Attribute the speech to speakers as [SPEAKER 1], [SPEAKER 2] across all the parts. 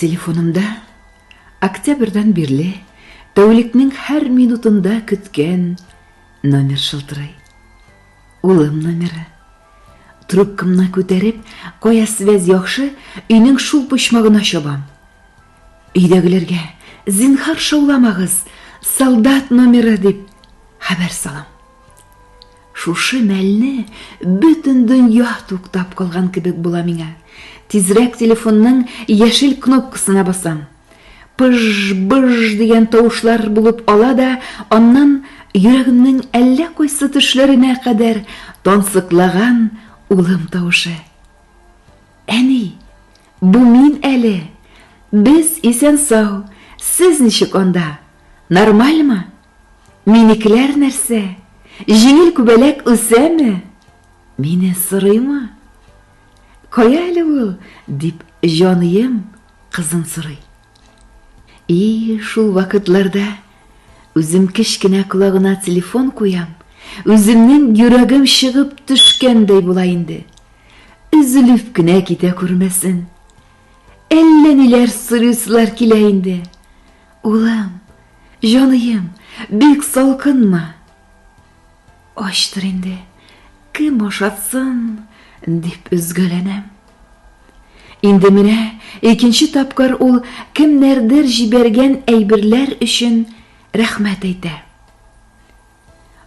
[SPEAKER 1] Телефонымда октябрьдан бирле тәүлекнең һәр минутында көткән номер шылтырый. Улым номеры. Трубкамны күтәреп, кая связь яхшы, өйнең шул почмагына чабам. Өйдәгеләргә, зинһар шауламагыз, солдат номеры дип хәбәр салам. Шушы мәлне бөтен дөнья туктап калган кебек була миңа. Тизрәк телефонның яшел кнопкасына басам. Пыж-быж дигән тавышлар булып ала да, аннан йөрәгемнең әллә кайсы төшләренә кадәр тансыклаган улым тавышы. Әни, бу мин әле. Без исән-сау. Сез ничек анда? Нормальмы? Минекеләр нәрсә? Җиңел күбәләк үсәме? Мине сорыймы? Кая әле ул? дип җаныем кызын сорый. И, шул вакытларда үзем кечкенә колагына телефон куям, үземнең йөрәгем чыгып төшкәндәй була инде. Өзелеп кенә китә күрмәсен. Әллә ниләр сорыйсылар килә инде. Улым, җаныем, бик салкынмы? Ачтыр инде, кем ашатсын, дип өзгәләнәм. Инде менә икенче тапкыр ул кемнәрдер җибәргән әйберләр өчен рәхмәт әйтә.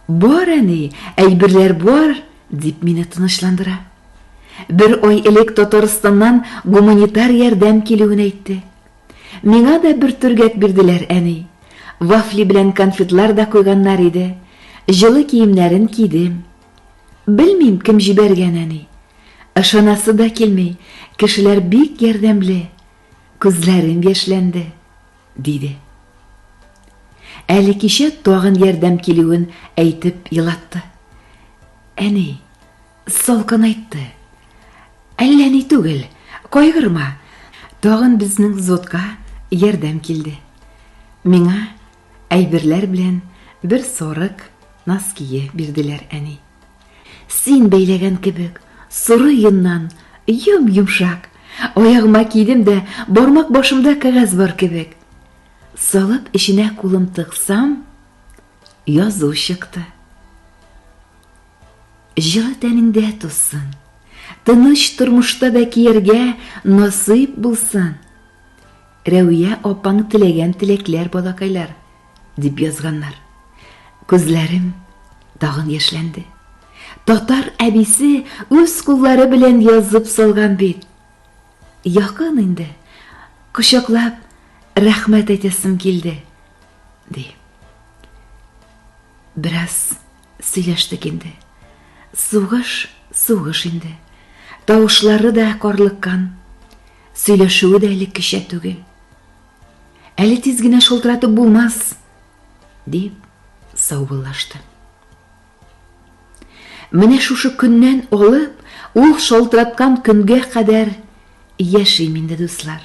[SPEAKER 1] Бар, әни, әйберләр бар, дип мине тынычландыра. Бер ай элек Татарстаннан гуманитар ярдәм килүен әйтте. Миңа да бер төргәк бирделәр, әни. Вафли белән конфетлар да куйганнар иде. Җылы киемнәрен кидем. Белмим, кем җибәргән, әни. Ышанасы да килми, кешеләр бик ярдәмле. Күзләрем яшьләнде. Диде. Әле кичә тагын ярдәм килүен әйтеп елатты. Әни, салкынайтты. Әллә ни түгел, кайгырма. Тагын безнең зодка ярдәм килде. Миңа әйберләр белән бер сорык ноские бирделәр әни. Син бәйләгән кебек, соры йоннан, йом-йомшак. Аягыма кидем дә, бармак башымда кәгазь бар кебек. Салып эченә кулым тыксам, язу чыкты. Җылы тәнеңдә тузсын, тыныч тормышта да кияргә насыйп булсын. Рәүия апаң теләгән теләкләр балакайлар. Дип язганнар. Күзләрем тагын яшьләнде. Татар әбисе үз куллары белән язып салган бит. Якын инде. Кочаклап рәхмәт әйтәсем килде. Ди. Бераз сөйләштек инде. Сугыш, сугыш инде. Тавышлары да карлыккан. Сөйләшүе дә элеккечә түгел. Әле тиз генә шылтыратып булмас, дип саубыллашты. Менә шушы көннән алып, ул шалтыраткан көнгә кадәр яшим инде, дуслар.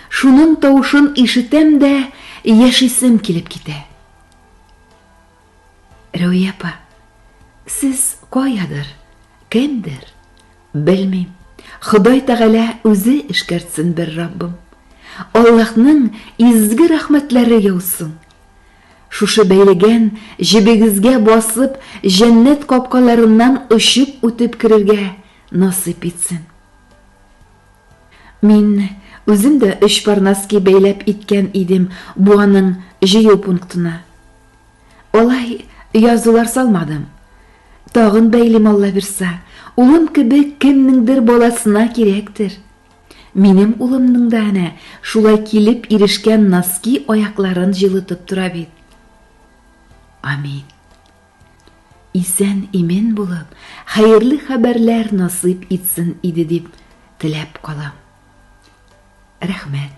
[SPEAKER 1] Шуның тавышын ишетәм дә, яшисем килеп китә. Рәүия апа, сез каядыр, кемдер, белмим. Ходай Тәгалә үзе эшкәртсен бер Раббым. Аллаһның изге рәхмәтләре яусын. Шушы бәйләгән җебегезгә басып, җәннәт капкаларыннан очып үтеп керергә насыйп итсен. Мин үзем дә өч парнаски бәйләп иткән идем буаның җыю пунктына. Алай язулар салмадым. Тагын бәйлим Алла бирса, улым кебек кемнеңдер баласына кирәктер. Минем улымның да әнә шулай килеп ирешкән носки аякларын җылытып тора бит. Амин. Исән имен булып, хәерле хәбәрләр насыйп итсен иде дип теләп калам. Рәхмәт.